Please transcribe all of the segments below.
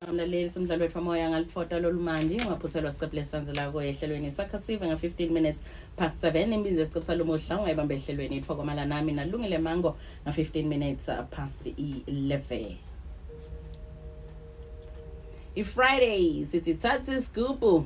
mlaleli somdlalo wethu amoya ngalifota lolumandi ungaphuthelwa siqephu lesisanzelako ehlelweni sakha sive nga-15 minutes past 7 imbinzi yesiqephu salomuhla ungayibamba ehlelweni ithiwa kwamala nami nalungile mango nga-15 minutes uh, past 11 i-friday sithi thatha isigubhu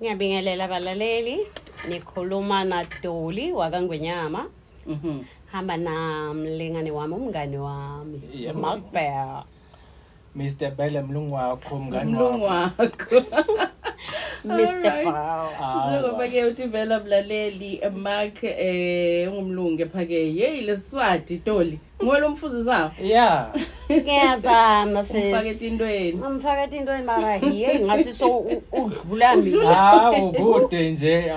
Ngiyabingelela balaleli nikhuluma na Doli wakangwenyama mhm hamba namlingane wami umngane wami Makbel Mr Bele mlungu wakho umngane wakho mlungu wakho Mr Bell ah, njengoba ke uthi vela mlaleli mark eh ungumlungu ephake hey lesiswati Doli Ngwela umfuzi zawo. Yeah. Ngiyazama sisi. Umfake tintweni. Umfake tintweni mara hey ngasi so udlula mina. Hawu kude nje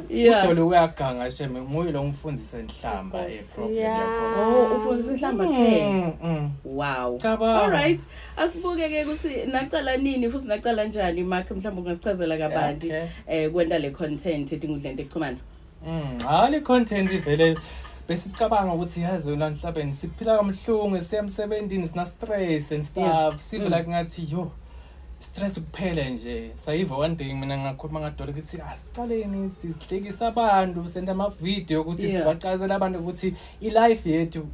udole uyaganga sheme nguye lo ngifundisa inhlamba e problem yakho. Oh ufundisa inhlamba kuphela. Mm, mm. Wow. All right. Asibuke ke ukuthi naqala nini futhi naqala kanjani Mark mhlawumbe ungasichazela kabanti eh kwenta le content edinga udlente kuxhumana. Mm, hayi le content ivele besicabanga ukuthi yazi yona nhlabeni siphila kamhlungu siya emsebenzini sina stress and stuff yeah. sive mm. like ngathi yo stress kuphele nje sayiva one day mina ngakhuluma ngadolo ukuthi asicaleni sihlekisa abantu senda ama video ukuthi yeah. sibacazela abantu ukuthi ilife yethu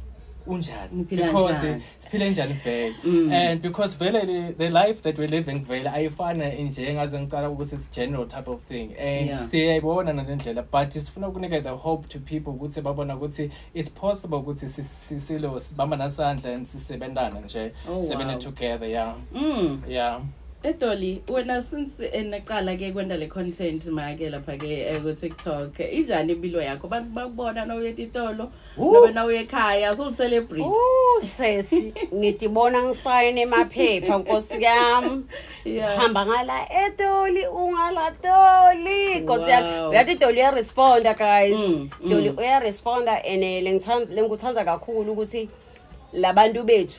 unjani because siphile njani vele mm. and because vele the life that we're living vele ayifana nje ngaze ngicala ukuthi it's general type of thing and siyayibona nale ndlela but sifuna ukunika the hope to people ukuthi babona ukuthi it's possible ukuthi sisilo sibamba nasandla and sisebenzana nje oh, sebenza together yeah mm. yeah Edoli wena since enaqala ke kwenda le content make lapha ke eh, ku TikTok injani impilo yakho abantu bakubona na uye titolo nobe na uye ekhaya so celebrate Oh sesi ngidibona ngisayene emaphepha nkosi yami yeah hamba ngala etoli ungala toli nkosi yami Wow. uyathi toli uya responda guys Mm, mm. toli uya responda and eh, lengithanda lengikuthanda kakhulu ukuthi labantu bethu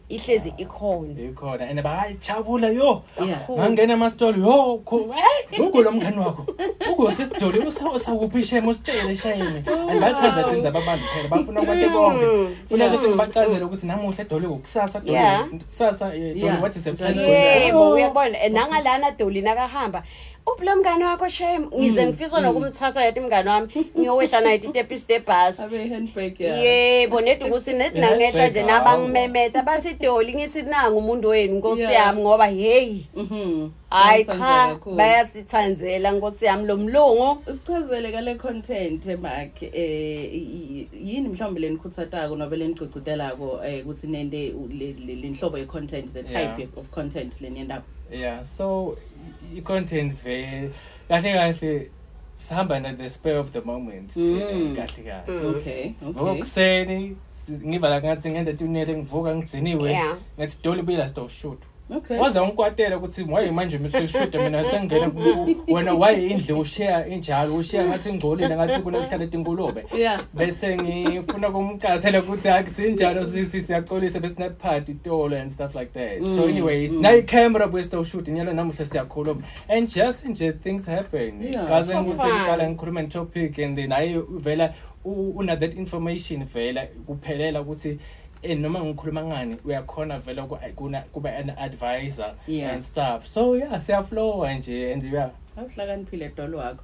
ihlezi ikhona ikhona and bayi chabula yo ngangena ama store yo ugu lo mngani wakho ugu sesidoli usawuphi shame usitshele shame and bathaza thina zababantu phela bafuna abantu bonke mm. funa ukuthi ngibachazele ukuthi namuhla doli ukusasa doli kusasa eh, doli wathi sephelile yebo uyabona nangalana doli nakahamba ubula mngane wakho shame mm, ngize ngifisa mm. nokumthatha yathi mngane wami ngiyowehla naye itepi step bus yebo nedi ukuthi nedi nangehla nje nabangimemeta bathi doli ngisi nangu umuntu wenu nkosi yami ngoba hey mm-hmm. hayi cha bayasithandzela nkosi yami lo mlungu sichazele kale content makhe eh yini mhlawumbe lenikhutsatako nobe lenigcugcutelako eh ukuthi nende lenhlobo ye content the type of content leniyendako yeah so i-content vele kahle kahle sihamba na the spare of the moment mm. kahle kahle mm. okay sivuka kuseni ngivala ngathi ngenda tunele ngivuka ngigciniwe ngathi doli bila sto shoot Okay. Waze ungikwatela ukuthi why manje mina seshuda mina sengena wena why indle ushare injalo ushare ngathi ingcolile ngathi kunokuhlala etinkulume. Yeah. Bese ngifuna kumcasela ukuthi akusinjalo sisi siyaxolisa besinaphathi itolo stuff like that mm. so anyway mm. nayi camera buye sto shoot nyalo namuhla siyakhuluma and just nje things happen kaze ngikuthi ngiqala ngikhuluma topic and then ayi uvela una that information vela kuphelela ukuthi and eh, noma ngikhuluma ngani uyakhona vele kuna kuba an advisor yeah. and stuff so yeah siyaflowa nje and yeah awuhlakaniphile dolo wakho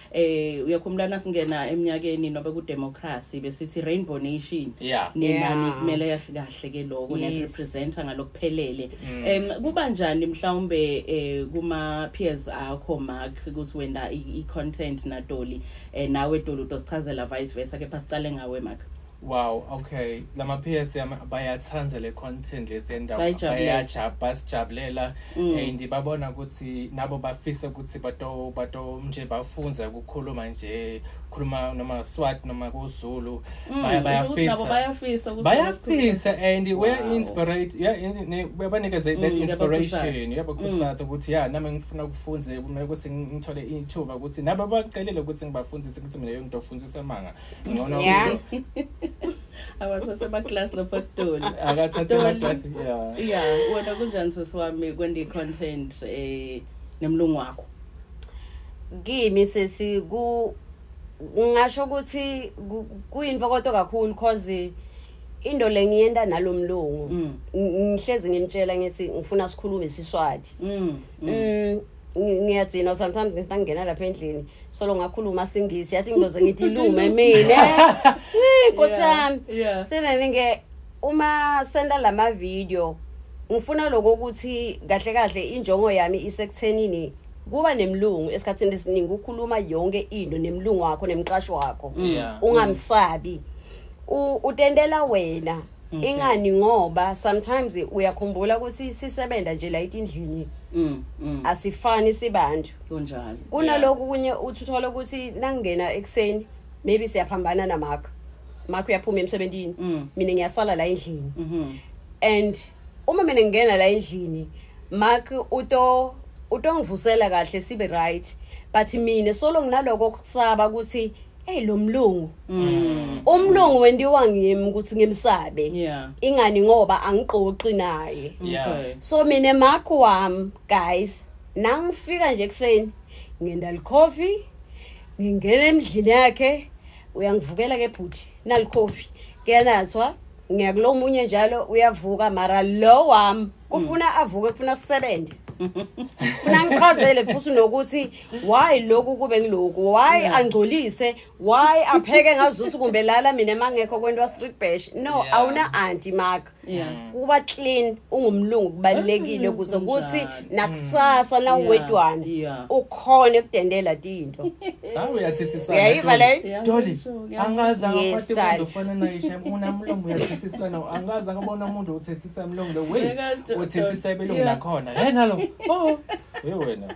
eh uyakhumbula nasingena eminyakeni nobe ku democracy besithi rainbow nation yeah. nina yeah. nikumele kahle ke lokho yes. ne representer ngalokuphelele mm. em mm. um, kuba njani mhlawumbe eh, kuma peers akho mark ukuthi wenda i content na doli eh, nawe doli utosichazela vice versa kepha sicale ngawe mark Wow, okay. Lama PS yami bayathanda le content lesendawo. Bayajabula, basijabulela mm. and babona ukuthi nabo bafisa ukuthi bato bato nje bafunza ukukhuluma nje, khuluma noma Swat noma kuZulu. Mm, bayafisa. Bayafisa ukuthi bayafisa and we are inspired. Yeah, babanikeze that mm, inspiration. Yabo kusathi ukuthi yeah nami ngifuna ukufunza kumele ukuthi ngithole ithuba ukuthi nabo bacelele ukuthi ngibafundise ukuthi mina yonke ngidofundisa manga. ngcono yeah awasase ba class lo patoli akathathe ba class yeah yeah wena kunjani sisi wami kwendi content eh nemlungu wakho kimi sesi ku ngasho ukuthi kuyinto kodwa kakhulu cause into le ngiyenda nalomlungu mm. ngihlezi ngimtshela ngithi ngifuna sikhulume siswathi mm, mm. mm ngiyadzina sometimes ngithi ngingena lapha endlini solo ngakhuluma singisi yathi ngiloze ngithi ilume mina nkosi yami senene ke uma senda lama video ngifuna lokho ukuthi kahle kahle injongo yami isekuthenini kuba nemlungu esikhathini esiningi ukhuluma yonke into nemlungu wakho nemqasho wakho ungamsabi utendela wena Okay. ingani ngoba sometimes uyakhumbula ukuthi sisebenza nje la etindlini Mm, mm, asifani sibantu kunjalo kunaloku kunye uthi uthole ukuthi nangingena ekuseni maybe siyaphambana namakho makho uyaphuma emsebenzini Mm. mina ngiyasala la endlini Mhm. and uma mina ngingena la endlini mark uto utongivusela kahle sibe right but mina solo nginaloko kusaba ukuthi Hey lo mlungu. Mm. Umlungu wendiwa ngimi ukuthi ngimsabe. Yeah. Ingani ngoba angiqoqi naye. Yeah. Okay. So mina makho wami guys nangifika nje kuseni ngenda likhofi ngingena emdlini yakhe uyangivukela ke bhuti nalikhofi kuyanathwa ngiyakulo omunye njalo uyavuka mara lo wami kufuna avuke kufuna sisebenze funa ngichazele futhi nokuthi why lokhu kube ngiloku why yeah. angcolise why apheke ngazusu kumbe lala mina mangekho kwento street bash no yeah. awuna anti mark yeah. Mm. kuba clean ungumlungu kubalekile mm, kuze kuthi nakusasa mm. nawuwedwana yeah. ukhona ekudendela tinto hawu uyathethisana uyayiva le doli angaza ngaphathi kwento fana nayo shem unamlungu uyathethisana angaza ngabona umuntu uthethisa mlungu lo we uthethisa ibelungu lakhona hey nalo oh hey wena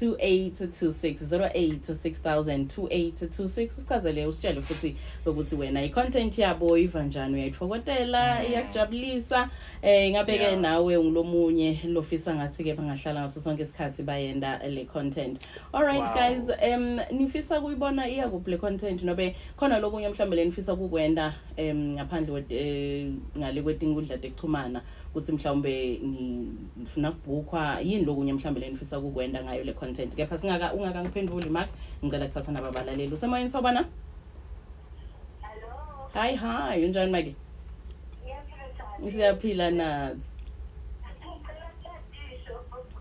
2826 usichazele usitshele futhi ukuthi wena i-content yabo iva njani uyayithokotela mm. iyakujabulisa eh ngabe ke nawe ungilomunye lofisa ngathi ke bangahlala ngaso sonke isikhathi bayenda le content all right wow. guys um nifisa kuyibona iya kuphi le content nobe khona lokunye mhlawumbe lenifisa kukwenda um ngaphandle eh, ngale kwetingudla tekuchumana ukuthi mhlawumbe ngifuna kubhukhwa yini lokunye mhlawumbe lenifisa ukukwenda ngayo le content kepha singaka ungakangiphenduli mark ngicela kuthatha naba balaleli usemoyeni sawubona hi hi unjani maki siyaphila nathi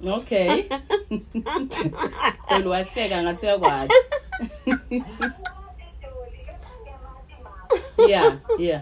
okay doli wahleka ngathi uyakwazi yeah yeah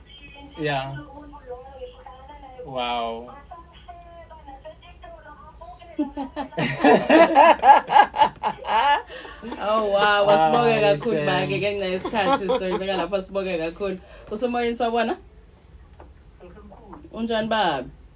Yeah. Wow. oh wow wasibonge ah, kakhulu bake ngenxa yesikhathi sizoyibeka lapha sibonge kakhulu usemoyeni sawubona unjani babi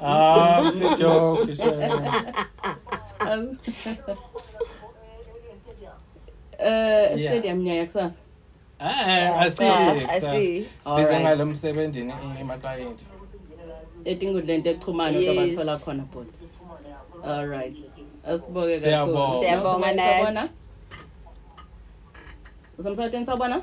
Ah, it's a joke. It's a... um, uh, stadium yeah. ngiya kusasa ah, asibize ah, ngalo msebenzini emaklayenti etingudla into echumana sobathola khona bhuti all right asiboke kakhulu siyabonga nathi usemsakweni sawubona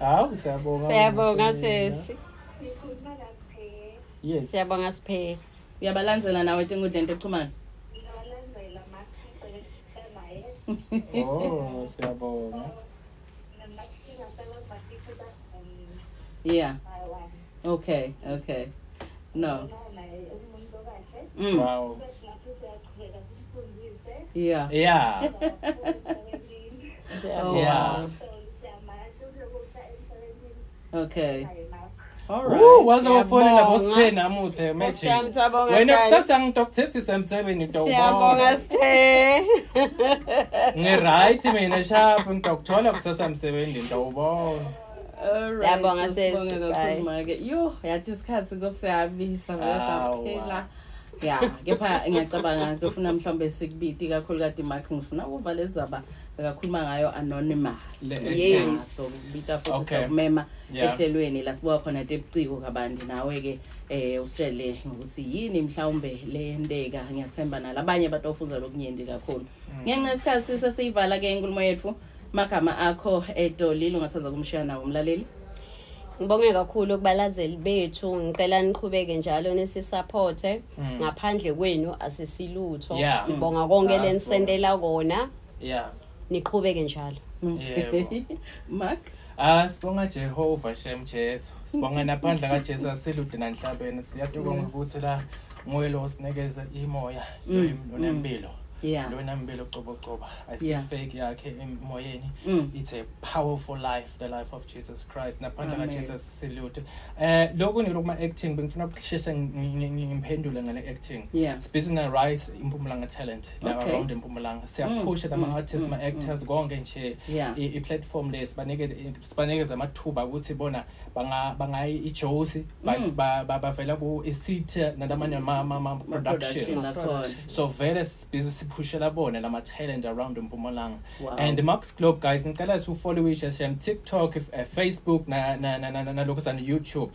hawu siyabonga siyabonga sesi yes siyabonga siphele uyabalandzela nawe tinkundleni tekuchumana oh siyabonga yeah okay okay no mm. wow yeah yeah oh, yeah wow. okay waze wafonela bosithe namuhle magic wena kusasa ngidokthethisa emsebeni dowsiyabonga sithe ngi-right mina shapho ngidokuthola kusasa emsebenzini dowubona yabonga sesibonge yo yathi isikhathi nkosiyami savela saphela ya kepha ngiyacabanga ngifuna mhlawumbe sikubiti kakhulukade mark ngifuna ukuva le ndzaba bekakhuluma ngayo anonymous yes so kubita futhi sakumema ehlelweni la sibuka khona tebuciko kabanti nawe-ke eh usitshele ngokuthi yini mhlawumbe leyenteka ngiyathemba nalabanye batofunda lokunyenti kakhulu mm. ngenxa yesikhathi sesiyivala-ke inkulumo yethu Magama akho edolile ungasaza kumshiya nawo umlaleli. Ngibonge kakhulu kubalazeli bethu ngicela niqhubeke njalo nisisupporte mm. ngaphandle kwenu asisilutho yeah. sibonga mm. konke ah, lenisendela kona yeah niqhubeke njalo mm. yebo Mark Ah sibonga Jehova shem Jesu sibonga naphandla kaJesu asilude nanhlabeni siyathokoza ukuthi la nguye lo osinikeza imoya nonempilo yeah. lona mbelo cobocoba ayisifeki yeah. yakhe emoyeni mm. it's a powerful life the life of jesus christ naphandle kajesus silute um eh, lokhu nilo kuma-acting bengifuna ukusheshe ngimphendule ngale acting yeah. sibhizi nge-rice impumalanga talent okay. around impumalanga siyaphusha mm. nama-artist mm. ma-actors mm. konke nje yeah. i-platform le sibanike sibanikeza amathuba ukuthi bona bangayi ijosi mm. bavela ku-isithe nanamanye ama-production so vele sibhizi siphushela bona lama-talent around empumalanga and max globe guys ngicela siwufoliwishe shem tiktok eh, facebook nalokho sani-youtube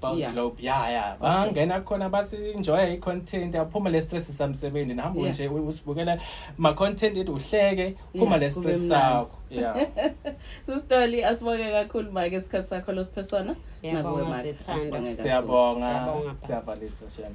Bound Yeah. Globe. Yeah, yeah. Bangena khona bathi enjoy i-content, aphuma le stress samsebenzi. Nihamba Yeah. nje u- usibukela ma content ethi uhleke, phuma Yeah, le kube stress mnandi. sakho. Yeah. Sistoli asibonge kakhulu make isikhathi sakho losiphe sona. Ngiyabonga, Nakuwe, Mike. sithanda. Asibonge kakhulu. Siyabonga. Siyabonga, Baba. Siyavalisa shame.